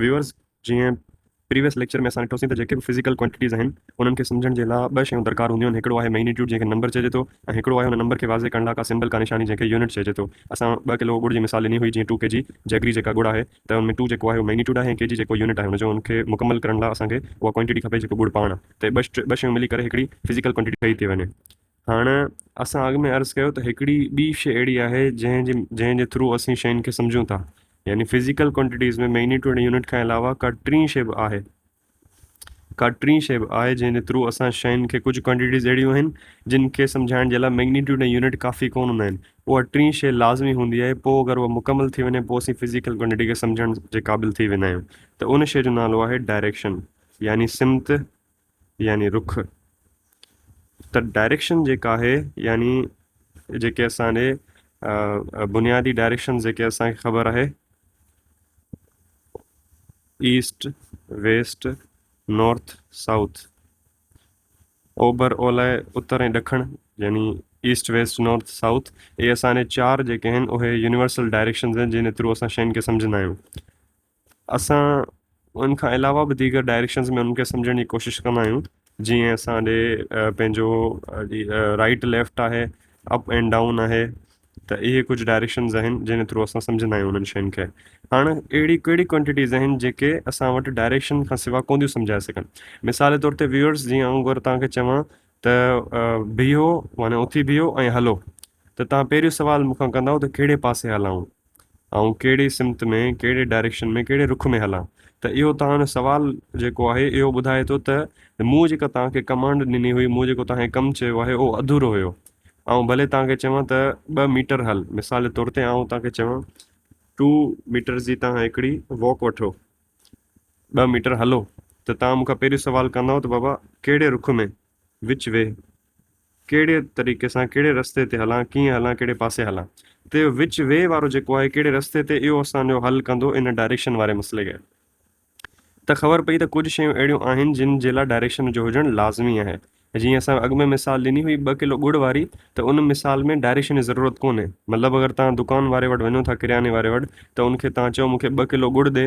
Viewers جيئن previous lecture ۾ اسان ڏٺوسين ته جيڪي به فزيڪل ڪوانٽيٽيز آهن انهن کي سمجهڻ جي لاء ٻه شيون درڪار هونديون آهن هڪڙو آهي مئگنيٽيوڊ جنهن کي نمبر چئجي ٿو ۽ هڪڙو آهي ان نمبر کي واضح ڪرڻ لاء ڪا سمبل ڪا نشاني جنهن کي يونٽ چئجي ٿو اسان ٻه ڪلو ڳڙ جي مثال ڏني هئي جيئن ٽو ڪي جي جيگري جيڪا ڳڙ آهي ته ان ۾ ٽو جيڪو آهي اهو مئگنيٽيوڊ آهي ۽ ڪي جي جيڪو يونٽ آهي ان جو ان کي مڪمل ڪرڻ لاء اسان کي اها ڪوانٽيٽي کپي جيڪو ڳڙ پاڻ تي ٻه شيون ملي ڪري هڪڙي فزيڪل ڪوانٽيٽي ٺهي ٿي وڃي هاڻ اسان اڳ ۾ عرض ڪيو ته هڪڙي ٻي شيء اهڙي آهي جنهن جي جنهن جي ٿرو اسين شين کي سمجهون ٿا يعني فزيڪل ڪوانٽيٽيز ۾ ميگنيٽوڊ ۽ يونٽ کان علاوه ڪا ٽين شيء به آهي ڪا ٽين شيء به آهي جنهن جي ٿرو اسان شين کي ڪجهه ڪوانٽيٽيز اهڙيون آهن جن کي سمجهائڻ جي لاء ميگنيٽوڊ ۽ يونٽ ڪافي ڪون هوندا آهن اها ٽين شيء لازمي هوندي آهي پوء اگر اها مڪمل ٿي وڃي پوء اسين فزيڪل ڪوانٽيٽي کي سمجهڻ جي قابل ٿي ويندا آهيون ته ان شيء جو نالو آهي ڊائريڪشن يعني سمت يعني رخ ته ڊائريڪشن جيڪا آهي يعني جيڪي اسان ڏي بنيادي ڊائريڪشن جيڪي اسان کي خبر آهي ايسٽ ويسٽ نارٿ سائوٿ اوڀر اولاء اتر ۽ ڏکڻ يعني ايسٽ ويسٽ نارٿ سائوٿ اهي اسان ڏي چار جيڪي آهن اهي يونيورسل ڊائريڪشنز آهن جن ٿرو اسان شين کي سمجھندا آهيون اسان ان کان علاوه به ديگر ڊائريڪشنز ۾ انهن کي سمجهڻ جي ڪوشش ڪندا آهيون جيئن اسان ڏي پنهنجو رائٽ ليفٽ آهي اپ اينڊ ڊائون آهي ته اهي ڪجهه ڊائريڪشنز آهن جنهن ٿرو اسان سمجهندا آهيون انهن شين کي هاڻ اهڙي ڪهڙي ڪوانٽيٽيز آهن جيڪي اسان وٽ ڊائريڪشن کان سوا ڪون ٿيون سمجهائي سگهن مثال جي طور تي ويورس جيئن آئون اگر توهان کي چوان ته بيهو معنی اٿي بيهو ۽ هلو ته توهان پهريون سوال مون کان ڪندائو ته ڪهڙي پاسي هلائون؟ آئون ڪهڙي سمت ۾ ڪهڙي ڊائريڪشن ۾ ڪهڙي رخ ۾ هلان؟ ته اهو توهان جو سوال جيڪو آهي اهو ٻڌائي ٿو ته مون جيڪا توهان کي ڪمانڊ ڏني هئي، مون جيڪو توهان کي ڪم چيو آهي اهو اڌورو هيو. آئون ڀلي توهان کي چوان ته ٻه ميٽر هل، مثال جي طور تي آئون توهان کي چوان ٽو ميٽرز جي توهان هڪڙي واڪ وٺو، ٻه ميٽر هلو، ته توهان مون کان پهريون سوال ڪندائو ته بابا ڪهڙي رخ ۾؟ وچ وي، ڪهڙي طريقي سان ڪهڙي رستي تي هلان، ڪيئن هلان، ڪهڙي پاسي هلان. ته اهو وچ وي وارو جيڪو آهي ڪهڙي رستي تي اهو اسان جو حل ڪندو ان ڊائريڪشن واري مسئلي کي. ته خبر پئي ته ڪجهه شيون اهڙيون آهن جن جي لاء ڊائريڪشن جو هجڻ لازمي آهي. جيئن اسان اڳ ۾ مثال ڏني هئي ٻه ڪلو ڳڙ واري ته ان مثال ۾ ڊائريڪشن جي ضرورت ڪونهي. مطلب اگر توهان دڪان واري وٽ وڃو ٿا ڪرياني واري وٽ ته ان کي توهان چئو مون کي ٻه ڪلو ڳڙ ڏي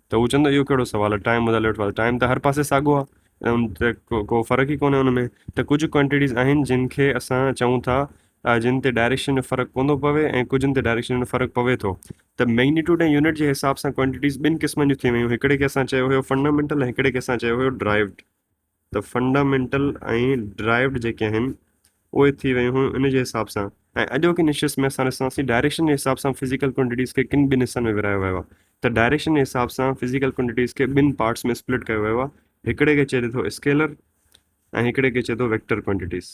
ته هو چوندو اهو ڪهڙو سوال آهي ٽائيم مطالعي وٺو ته ٽائيم ته هر پاسي ساڳو آهي ان تي ڪو فرق ئي ڪونهي ان ۾ ته ڪجهه ڪوانٽيٽيز آهن جن کي اسان چئون ٿا جن تي ڊائريڪشن جو فرق ڪون ٿو پوي ۽ ڪجهن تي ڊائريڪشن جو فرق پوي ٿو ته ميگنيٽوڊ ۽ يونٽ جي حساب سان ڪوانٽيٽيز ٻن قسمن جون ٿي ويون هڪڙي کي اسان چيو هيو فنڊامينٽل ۽ هڪڙي کي اسان چيو هيو ڊرائيوڊ ته فنڊامينٽل ۽ ڊرائيوڊ جيڪي آهن اهي ٿي ويون هيون ان جي حساب سان ۽ اڄوڪي نشست ۾ اسان ڏسان ٿي ڊائريڪشن جي حساب سان فزيڪل ڪوانٽيٽيز کي ڪن ٻن حصن ۾ ورهايو ويو آهي ته ڊائريڪشن جي حساب سان فزيڪل ڪوانٽيٽيز کي ٻن پارٽس ۾ اسپلٽ ڪيو ويو آهي هڪڙي کي چئجي ٿو اسڪيلر ۽ هڪڙي کي چئجي ٿو ويڪٽر ڪوانٽيٽيز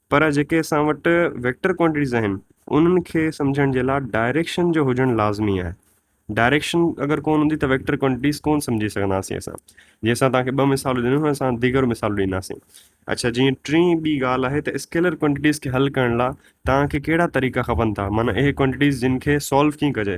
پر جيڪي اسان وٽ ويڪٽر ڪوانٽيٽيز آهن انهن کي سمجهڻ جي لاء ڊائريڪشن جو هجڻ لازمي آهي ڊائريڪشن اگر ڪون هوندي ته ويڪٽر ڪوانٽيٽيز ڪون سمجهي سگهنداسين اسان جي اسان تان کي ٻه مثال ڏنو اسان ديگر مثال ڏينداسين اچھا جي ٽين ٻي ڳالهه آهي ته اسڪيلر ڪوانٽيٽيز کي حل ڪرڻ لاء تان کي ڪهڙا طريقا کپن ٿا معنيٰ اهي ڪوانٽيٽيز جن کي سالو ڪيئن ڪجي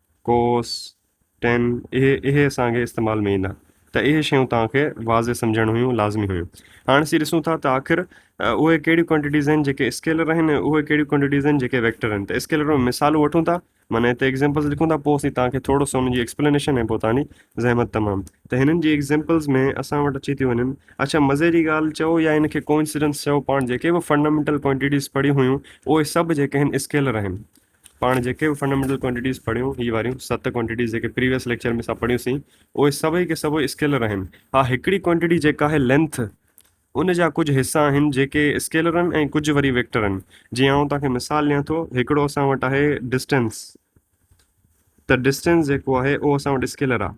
ڪوس، ٽين اهي اهي اسان کي استعمال ۾ ايندا ته اهي شيون توهان کي واضح سمجهڻ هيون لازمي هيون هاڻ اسين ڏسون ٿا ته آخر اهي ڪهڙيون ڪوانٽيٽيز آهن جيڪي اسڪيلر آهن ۽ اهي ڪهڙيون ڪوانٽيٽيز آهن جيڪي ويڪٽر آهن ته اسڪيلر ۾ مثالون وٺون ٿا معنی هتي ايگزامپلز لکون ٿا پوء اسين توهان کي ٿورو سو ان جي ايڪسپلينيشن ۽ پوء توهان جي زحمت تمام ته هنن جي ايگزامپلز ۾ اسان وٽ اچي ٿيون وڃن اڇا مزي جي ڳالهه چئو يا ان کي ڪوئنسيڊنس چئو پاڻ جيڪي به فنڊامينٽل ڪوانٽيٽيز پڙهيون هيون اهي سڀ جيڪي آهن اسڪيلر آهن پاڻ جيڪي به فنڊامينٽل ڪوانٽيٽيز پڙهيون، هي واريون ست ڪوانٽيٽيز جيڪي پريويس ليڪچر ۾ اسان پڙهيون سين، اهي سڀئي ڪي سڀئي اسڪيلر آهن. ها هڪڙي ڪوانٽيٽي جيڪا آهي لينٿ، ان جا ڪجهه حصا آهن جيڪي اسڪيلر آهن ۽ ڪجهه وري ويڪٽر آهن. جيئن آئون توهان کي مثال ڏيان ٿو، هڪڙو اسان وٽ آهي ڊسٽينس، ته ڊسٽينس جيڪو آهي اهو اسان وٽ اسڪيلر آهي.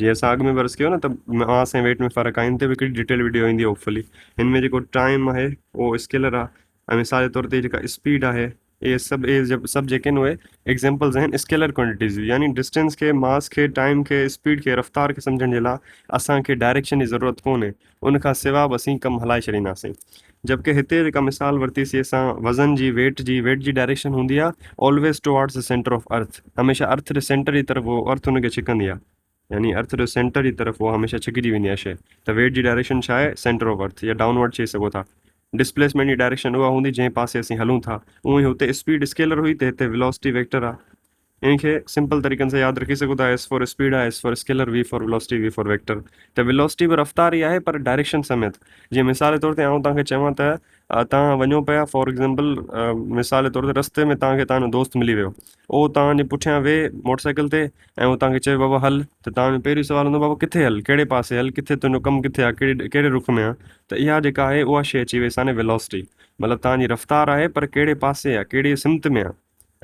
جيئن اسان اڳ ۾ به عرض ڪيو نه ته ماس ۽ ويٽ ۾ فرق آهي ان تي به هڪڙي ڊيٽيل وڊيو ايندي هوپ فلي هن ۾ جيڪو ٽائم آهي اهو اسڪيلر آهي ۽ مثال جي طور تي جيڪا اسپيڊ آهي اهي سڀ اهي سڀ جيڪي آهن اهي ايگزامپلز آهن اسڪيلر ڪوانٽيٽيز جون يعني ڊسٽنس کي ماس کي ٽائم کي اسپيڊ کي رفتار کي سمجھڻ جي لاء اسانکي ڊائريڪشن جي ضرورت ڪونهي ان کان سوا به اسين ڪم هلائي ڇڏينداسين جبڪه هتي جيڪا مثال ورتي سي اسان وزن جي ويٽ جي ويٽ جي ڊائريڪشن هوندي آ Always Towards The Center Of Earth هميشه ارٿ جي سينٽر جي طرف هو ارٿ ان کي ڇڪندي آ يعني ارٿ جو سينٽر جي طرف هو هميشه ڇڪجي ويندي آ شي ته ويٽ جي ڊائريڪشن ڇا آهي سينٽر آف ارٿ يا ڊائون ورڊ چئي سگهو ٿا ڊسپليسمينٽ جي ڊائريڪشن اها هوندي جنهن پاسي اسين هلون ٿا اونهي هتي اسپيڊ اسڪيلر هئي ته هتي ويلاسٽي ويڪٽر آ ان کي سمپل طريقن سان ياد رکي سگهو ٿا، ايس فار اسپيڊ آهي، S for scalar, V for velocity, V for vector. ته ويلاسٽي به رفتار ئي آهي پر ڊائريڪشن سميت. جيئن مثال طور تي آئون توهان کي چوان ته توهان وڃو پيا فار ايگزامپل مثال طور تي رستي ۾ توهان کي توهان جو دوست ملي ويو. اهو توهان جي پٺيان ويهي موٽر سائيڪل تي ۽ اهو توهان کي چوي بابا هل ته توهان جو پهريون سوال هوندو بابا ڪٿي هل، ڪهڙي پاسي هل، ڪٿي تنهنجو ڪم ڪٿي آهي، ڪهڙي ڪهڙي رخ ۾ آهي. ته اها جيڪا آهي اها شيء اچي وئي ساني ويلاسٽي. مطلب توهان جي رفتار آهي پر ڪهڙي پاسي آهي، ڪهڙي سمت ۾ آهي.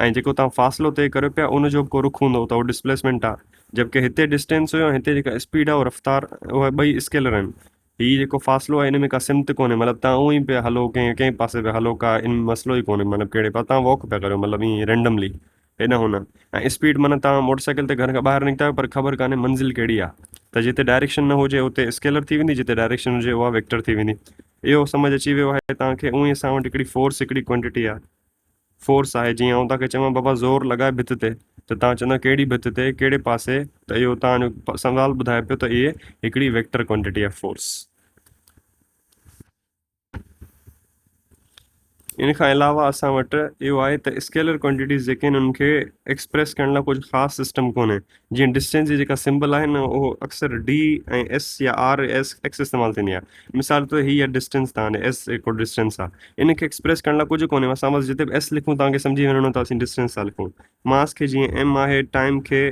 ۽ جيڪو توهان فاصلو طئي ڪريو پيا ان جو به ڪو رخ هوندو ته اهو ڊسپليسمينٽ آهي جبڪه هتي ڊسٽينس هيو ۽ هتي جيڪا اسپيڊ آهي اهو رفتار اهي ٻئي اسڪيلر آهن هي جيڪو فاصلو آهي ان ۾ ڪا سمت ڪونهي مطلب توهان اونهي پيا هلو ڪنهن ڪنهن پاسي پيا هلو ڪا ان مسئلو ئي ڪونهي مطلب ڪهڙي پاسي توهان واڪ پيا ڪريو مطلب ائين رينڊملي هيڏانهن هونڏانهن ۽ اسپيڊ معنيٰ توهان موٽر سائيڪل تي گهر کان ٻاهر نڪتا آهيو پر خبر ڪانهي منزل ڪهڙي آهي ته جتي ڊائريڪشن نه هجي اتي اسڪيلر ٿي ويندي جتي ڊائريڪشن هجي اها ويڪٽر ٿي ويندي اهو سمجهه اچي ويو آهي توهان کي اونهي اسان وٽ هڪڙي فورس هڪڙي ڪوانٽيٽي آهي فورس آهي جيئن آئون توهان کي چوان بابا زور لڳاء ڀت تي ته توهان چوندا ڪهڙي ڀت تي ڪهڙي پاسي ته اهو توهان جو سوال ٻڌائي پيو ته اهي هڪڙي ويڪٽر ڪوانٽيٽي آف فورس ان کان علاوه اسان وٽ اهو آهي ته اسڪيلر ڪوانٽيٽيز جيڪي آهن ان کي ايڪسپريس ڪرڻ لاء ڪجهه خاص سسٽم ڪونهي جيئن ڊسٽينس جي جيڪا سمبل آهي نه اهو اڪثر ڊي ۽ ايس يا آر ايس ايڪس استعمال ٿيندي آهي مثال طور هي آهي ڊسٽينس تان ايس هڪڙو ڊسٽينس آهي ان کي ايڪسپريس ڪرڻ لاء ڪجهه ڪونهي اسان بس جتي به ايس لکون تان کي سمجهي وڃڻو ته اسين ڊسٽينس ٿا لکون ماس کي جيئن ايم آهي ٽائم کي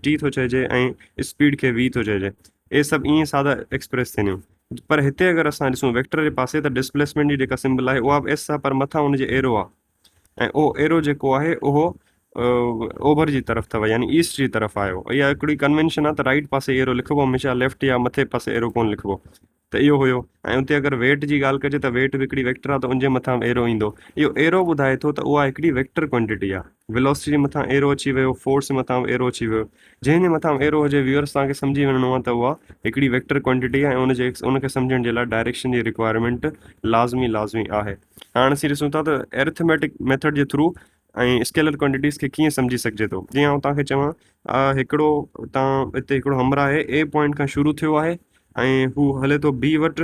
ٽي ٿو چئجي ۽ اسپيڊ کي وي ٿو چئجي اهي سڀ ائين سادا ايڪسپريس ٿين پر هتي اگر اسان ڏسون ويڪٽر جي پاسي ته ڊسپليسمينٽ جي جيڪا سمبل آهي اها به ايس آهي پر مٿان ان جي ايرو آهي ۽ او ايرو جيڪو آهي اهو اوڀر جي طرف اٿو يعني ايسٽ جي طرف آيو اها هڪڙي ڪنوينشن آهي ته رائيٽ پاسي ايرو لکبو هميشه ليفٽ يا مٿي پاسي ايرو ڪون لکبو ته اهو هيو ۽ اتي اگر ويٽ جي ڳالهه ڪجي ته ويٽ به هڪڙي ويڪٽر آهي ته ان جي مٿان ايرو ايندو اهو ايرو ٻڌائي ٿو ته اها هڪڙي ويڪٽر ڪوانٽيٽي آهي ويلوسٽي جي مٿان ايرو اچي ويو فورس جي مٿان ايرو اچي ويو جنهن جي مٿان ايرو هجي ويورس توهان کي سمجهي وڃڻو آهي ته اها هڪڙي ويڪٽر ڪوانٽيٽي آهي ان جي ان کي سمجهڻ جي لاء ڊائريڪشن جي رڪوائرمينٽ لازمي لازمي آهي هاڻ اسين ڏسون ٿا ته ارٿميٽڪ ميٿڊ جي ٿرو ۽ اسڪيلر ڪوانٽيٽيز کي کين سمجهي سگهجي ٿو جي آئون توهان کي چوان آ هڪڙو تان هتي هڪڙو همر آهي اي پوائنٽ کان شروع ٿيو آهي ۽ هو هلي ٿو بي وٽ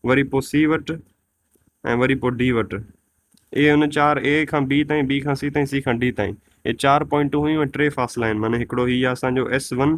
وري پوء سی وٽ ۽ وري پوء ڊي وٽ اي ان چار اي کان بي تائين بي کان سی تائين سی کان ڊي تائين اي چار پوائنٽون هيون ۽ ٽي فاصلا آهن معنی هڪڙو هي آهي اسانجو ايس ون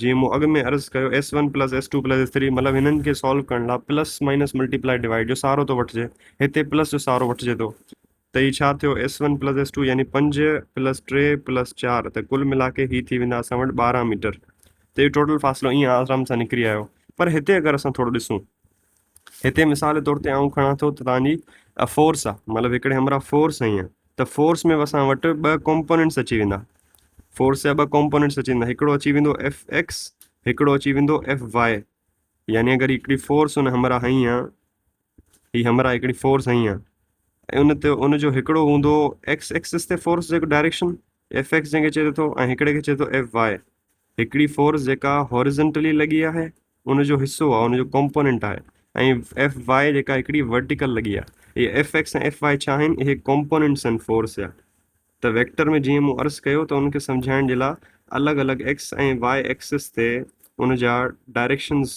جيئن مون اڳ ۾ عرض ڪيو S one plus S two plus S three مطلب هنن کي سالو ڪرڻ لاء پلس مائنس ملٽيپلائي ڊوائيڊ جو سهارو ٿو وٺجي هتي پلس جو سهارو وٺجي ٿو ته هي ڇا ٿيو S one plus S two يعني پنج پلس ٽي پلس چار ته ڪل ملا ڪي هي ٿي ويندا اسان وٽ ٻارهن ميٽر ته اهو ٽوٽل فاصلو ائين آرام سان نڪري آيو پر هتي اگر اسان ٿورو ڏسون هتي مثال طور تي آئون کڻان ٿو ته توهان جي فورس آهي مطلب هڪڙي همراهه فورس هئي آهي ته فورس ۾ اسان وٽ ٻه ڪمپوننٽس اچي ويندا فورس جا ٻه ڪمپوننٽس اچي ويندا هڪڙو اچي ويندو ايف ايڪس هڪڙو اچي ويندو ايف واء يعني اگر هڪڙي فورس ان همراهه هئي آهي هي همراهه هڪڙي فورس هئي آهي ان تي ان جو هڪڙو هوندو ايڪس ايڪسس تي فورس جو ڊائريڪشن ايف ايڪس جنهن کي چئجي ٿو ۽ هڪڙي کي چئجي ٿو ايف واء هڪڙي فورس جيڪا هاريزنٽلي لڳي آهي ان جو حصو آهي ان جو ڪمپوننٽ آهي ۽ ايف واء جيڪا هڪڙي ورٽيڪل لڳي آهي اهي ايف ايڪس ۽ ايف واء ڇا آهن اهي ڪمپوننٽس آهن فورس جا ته ويڪٽر ۾ جيئن مون عرض ڪيو ته ان کي سمجهائڻ جي لاء الڳ الڳ ايڪس ۽ واء ايڪسس تي ان جا ڊائريڪشنز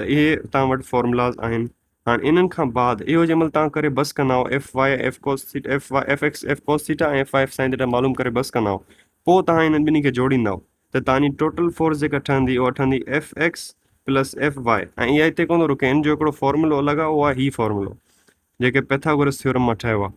ته اهي توهان وٽ فارمولاز آهن هاڻ انهن کان بعد اهو جي مهل توهان ڪري بس ڪندا آهو F Y F cos theta F Y F X F cos theta ۽ F Y F sine theta معلوم ڪري بس ڪندا آهو پوء توهان انهن ٻنهي کي جوڙيندا آهو ته توهانجي ٽوٽل فورس جيڪا ٺهندي اها ٺهندي F X plus F Y ۽ اها هتي ڪونه رڪي ان جو هڪڙو فارمولو الڳ آهي اهو آهي هي فارمولو جيڪي پيٿاگورس ٿيورم مان ٺهيو آهي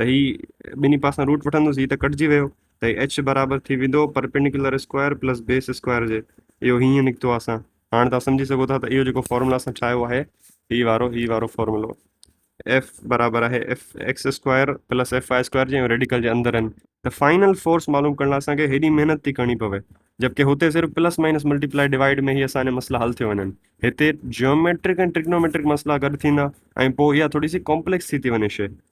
ته هي ٻنهي پاسن روٽ وٺندس هي ته ڪٽجي ويو ته هي ايڇ برابر ٿي ويندو perpendicular square plus base square جي اهو هيئن نڪتو آهي اسان هاڻي تان سمجهي سگهو ٿا ته اهو جيڪو فارمولا اسان ٺاهيو آهي هي وارو هي وارو فارمولو ايف برابر آهي F X square plus F Y square جي ريڊيڪل جي اندر آهن ته فائنل فورس معلوم ڪرڻ لاء اسانکي هيڏي محنت ٿي ڪرڻي پوي جبڪي هتي صرف پلس مائنس ملٽيپلائي ڊوائيڊ ۾ هي اسان مسئلا حل ٿيو وڃن هتي جيوميٽرڪ ۽ ٽريگنوميٽرڪ مسئلا گڏ ٿيندا ۽ پوء اها ٿوري سي ڪامپليڪس ٿي ٿي وڃي شي